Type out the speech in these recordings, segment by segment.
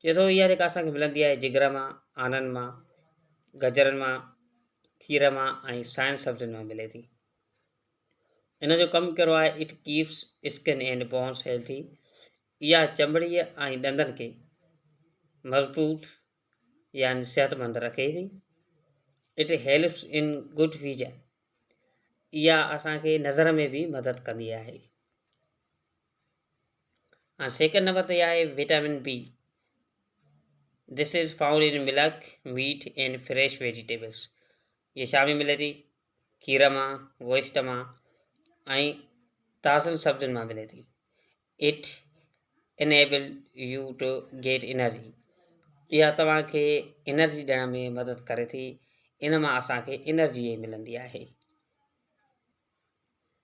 چئي ٿو اها جيڪا اسان کي ملندي آهي جگر مان، آنن مان، گجرن مان، کير مان ۽ ساين سبزين مان ملي ٿي. ان جو ڪم ڪهڙو آهي it keeps skin and bones healthy اها چمڙي ۽ ڏندن کي مضبوط يعني صحتمند رکي ٿي. It helps in good vision اها اسان کي نظر ۾ به مدد ڪندي آهي. ۽ سيڪنڊ نمبر تي آهي vitamin B this is found in milk meat and fresh vegetables جي شام ۾ ملي ٿي کير مان گوشت مان ۽ تازن سبزين مان ملي ٿي it enable you to get energy اها توهان کي انرجي ڏيڻ ۾ مدد ڪري ٿي ان مان اسانکي انرجي ملندي آهي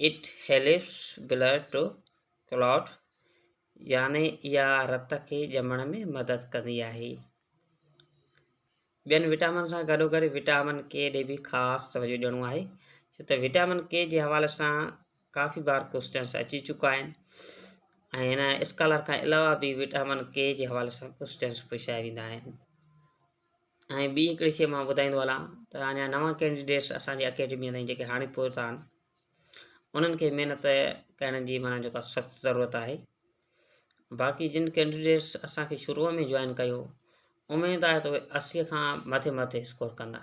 It helps blood to clot يعني اها رت کي ڄمڻ ۾ مدد ڪندي آهي ٻين وٽامن سان گڏو گڏ وٽامن ڪي ڏي به خاص توجه ڏيڻو آهي ڇو ته وٽامن ڪي جي حوالي سان ڪافي بار ڪوشچنس اچي چڪا آهن ۽ هن اسڪالر کان علاوه به وٽامن ڪي جي حوالي سان ڪوشچنس پڇايا ويندا آهن ۽ ٻي هڪڙي شيء مان ٻڌائيندو هلان ته اڃا نوان ڪينڊيڊيٽس اسان جي اڪيڊميء تائين جيڪي هاڻي پهتا آهن انهن کي محنت ڪرڻ جي معنيٰ جيڪا سخت ضرورت آهي باقي جن ڪينڊيڊيٽس اسان کي شروع ۾ جوائن ڪيو اميد آهي ته اهي اسيء کان مٿي مٿي اسڪور ڪندا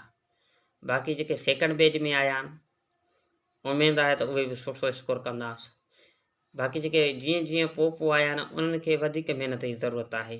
باقي جيڪي سيڪنڊ بيج ۾ آيا آهن اميد آهي ته اهي به سٺو اسڪور ڪنداس باقي جيڪي جيئن جيئن پوء پوء آيا آهن انهن کي وڌيڪ محنت جي ضرورت آهي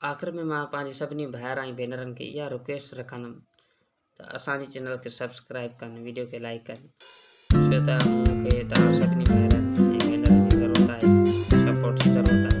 آخر ۾ مان پنهنجي سڀني ڀائر ۽ ڀينرن کي اها رڪويسٽ رکندم ته اسان جي چينل کي سبسڪرائب ڪن ويڊيو کي لائڪ ڪن ڇو ته مون کي توهان سڀني ڀائرن ۽ ڀينرن جي ضرورت آهي سپورٽ جي ضرورت آهي